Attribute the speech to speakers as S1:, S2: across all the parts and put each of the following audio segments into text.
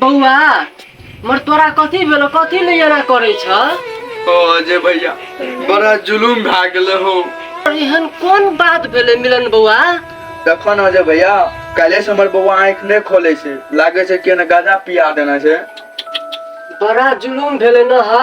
S1: बौआ मर तोरा कथी भेलो कथी ले एना करै छ ओ अजय भैया बड़ा जुलूम भए गेलै हो और एहन कोन बात भेलै मिलन बौआ देखो ने अजय भैया काल्हे से हमर बौआ आँखि नहि खोले छै लागे छै कि एने गाजा पिया देना छै बड़ा जुलूम भेलै न हौ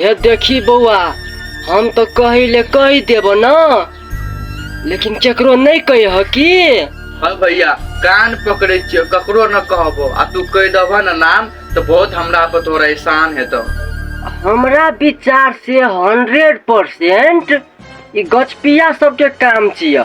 S1: हे देखी बौआ हम तो कही ले कही देब ना लेकिन केकरो नहीं कही हो की हाँ भैया कान पकड़े छियो ककरो न कहबो आ तू कह दबह न नाम तो बहुत हमरा पर तोरा एहसान है तो हमरा विचार से हंड्रेड परसेंट ई गछपिया सबके काम छिया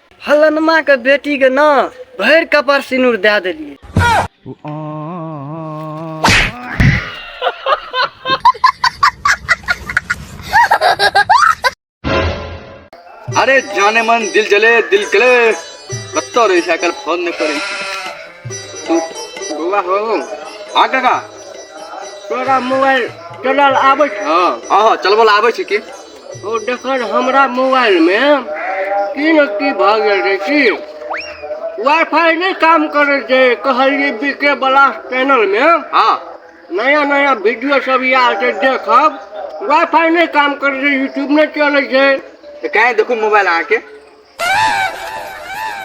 S1: फलनमा के बेटी के ना भरि कपार सिनुर दे देलिए अरे जाने मन दिल जले दिल कले कत्तो तो रे साइकिल फोन ने करे तू गोवा हो हां काका तोरा मोबाइल चलल आबै छ हां हां चलबल आबै छ की ओ देखन हमरा मोबाइल में की न की भ गेल रहे की वाईफाई नहीं काम करे जे कहलिए बीके ब्लास्ट चैनल में हाँ नया नया वीडियो सब आयल छै देखब वाईफाई नहीं काम करे जे यूट्यूब नहीं चले छै तो कहे देखो मोबाइल आके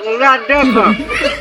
S1: हमरा देख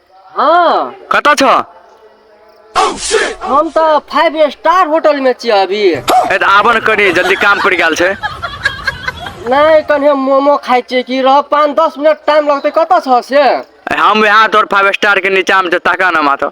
S1: हँ कतऽ छऽ हम तऽ फाइव स्टार होटल में छी अभी ए तऽ आबऽ ने कनी जल्दी काम पड़ि गेल छै नहीं कनी हम मोमो खाइ छियै कि रह पाँच दस मिनट टाइम लगतै कतऽ छऽ से ए, हम यहाँ तोर फाइव स्टार के नीचा में छै ताका ना माथा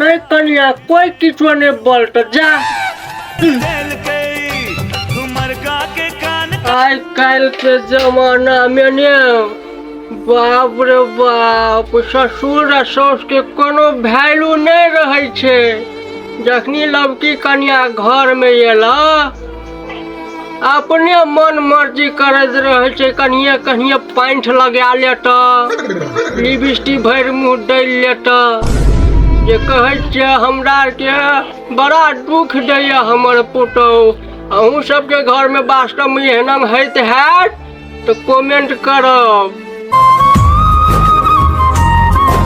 S1: नै कनिया कोई किछो नै बोलत जा आइ काल्हि के जमाना में ने बाप रे बाप ससुर आ साउस के कोनो वैल्यू नहि रहै छै जखनी लबकी कनिया घर में एला अपने मन मर्जी करैत रहै छै कनिए कनिए पाँठि लगा ले तऽ लिपस्टिक भरि मुँह दै ले तऽ जे कहै छियै हमरा आरके बड़ा दुख दैए हमर पुतहु अहूँ सबके घरमे वास्तवमे एहन होइत हैत तऽ कमेंट करब